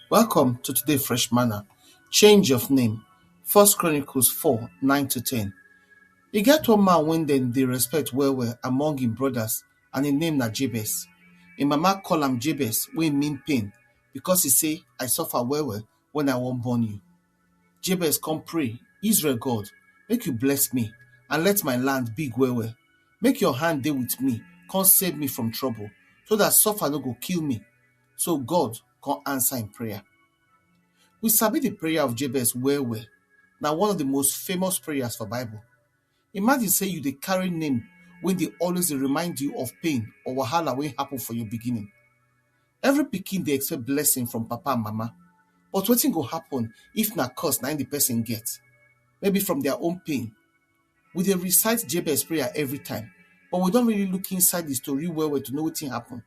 Welcome to today Fresh Manna. Change of name. First Chronicles 4, 9 to 10. E get one man wey dem dey respect well well among im brothers and im name na Jabez. Im mama call am Jabez wey mean pain because e say, I suffer well well when I wan born you. Jabez come pray, Israel God, make you bless me and let my land big well well. Make your hand dey with me, come save me from trouble, so that suffer no go kill me. so God come answer im prayer. We sabi the prayer of Jabez well well. Na one of the most famous prayers for Bible. Imagine say you dey carry name wey dey always dey remind you of pain or wahala wey happen for your beginning. Every pikin dey expect blessing from papa and mama, but wetin go happen if na curse na im the person get? Maybe from their own pain. We dey recite Jabez prayer every time, but we don really look inside the story well well to know wetin happen.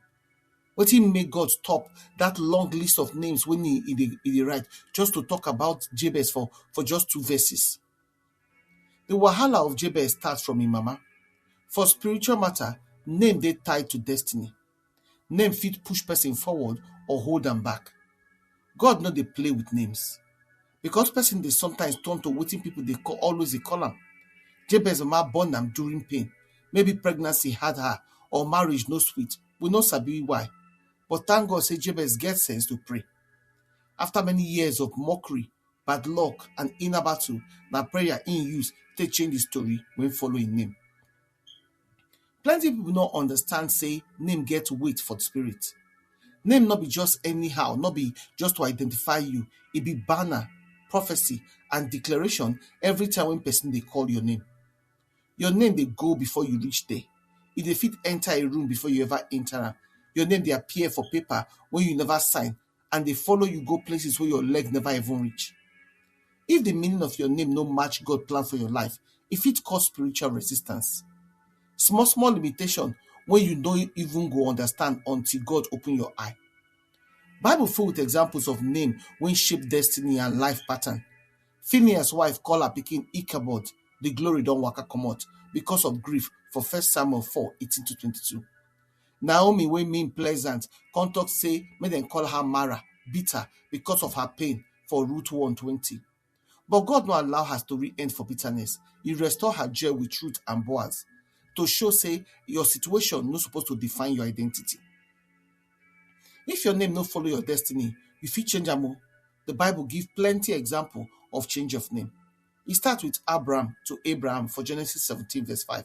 Wetin make God stop dat long list of names wey e e dey e dey write just to talk about Jabez for for just two verses? The wahala of Jabez start from im mama. For spiritual matter, name dey tied to destiny. Name fit push person forward or hold am back. God no dey play with names. because person dey sometimes turn to wetin people dey call always dey call am. Jabez mama born am during pain, maybe pregnancy hard her or marriage no sweet, we no sabi why but thank God sey Jabez get sense to pray. After many years of mockery, bad luck and inner battle, na prayer im use take change the story wey follow im name. Plenty pipu no understand sey name get weight for spirit. Name no be just anyhow, no be just to identify you. E be banner, prophecy and declaration every time wey pesin dey call your name. Your name dey go before you reach there. E dey fit enter a room before you ever enter am. Your name dey appear for paper wey you never sign and dey follow you go places wey your leg never even reach. If the meaning of your name no match God plan for your life, e fit cause spiritual resistance. Small small limitation wey you no even go understand until God open your eye. Bible full with examples of name wey shape destiny and life pattern. Phineas wife call her pikin Ichabod, the glory don waka comot because of grief for first Samuel 4, 18 to 22. Naomi wey mean pleasant come talk say make dem call her Mara, bitter, because of her pain for Rut one twenty. But God no allow her story end for bitterness. He restore her joy with Rut and Boaz to show say your situation no suppose to define your identity. If your name no follow your destiny, you fit change am o. The Bible give plenty example of change of name. E start with Abram to Abraham for Genesis seventeen verse five.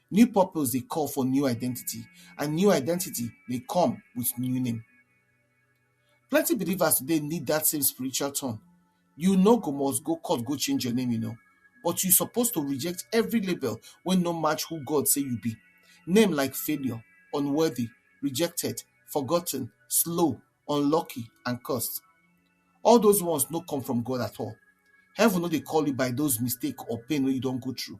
New purpose dey call for new identity and new identity dey come with new name. Plenty believers today need dat same spiritual turn. You no go must go court go change your name you know but you suppose to reject every label wey no match who God say you be. Name like failure, unworthy, rejected, forgotten, slow, unlucky and cursed. All those ones no come from God at all. Heaven no dey call you by those mistake or pain wey you don go through.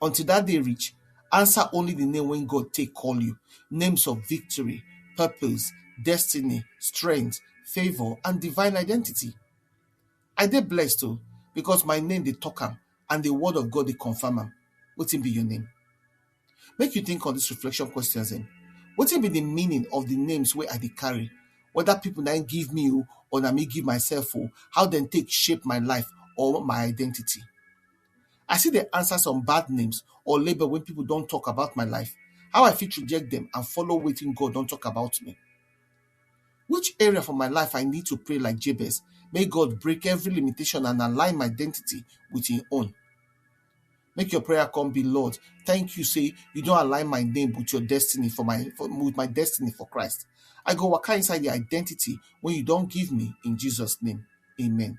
until dat day reach, answer only di name wey God take call you, names of victory, purpose, destiny, strength, favour and divine identity. I dey blessed o because my name dey talk am and di word of God dey confirm am. Wetin be your name? Make you think on dis reflection questions dem, wetin be di meaning of di names wey I dey carry, whether pipu na im give me o or na me give myself o, how dem take shape my life or my identity? I still dey answer some bad names or label wey people don talk about my life, how I fit reject dem and follow wetin God don talk about me? Which area for my life I need to pray like Jabez make God break every limitation and align my identity with im own? Make your prayer come be Lord, thank you say you don align my name with your destiny for my for, with my destiny for Christ. I go waka inside the identity wey you don give me in Jesus name. Amen.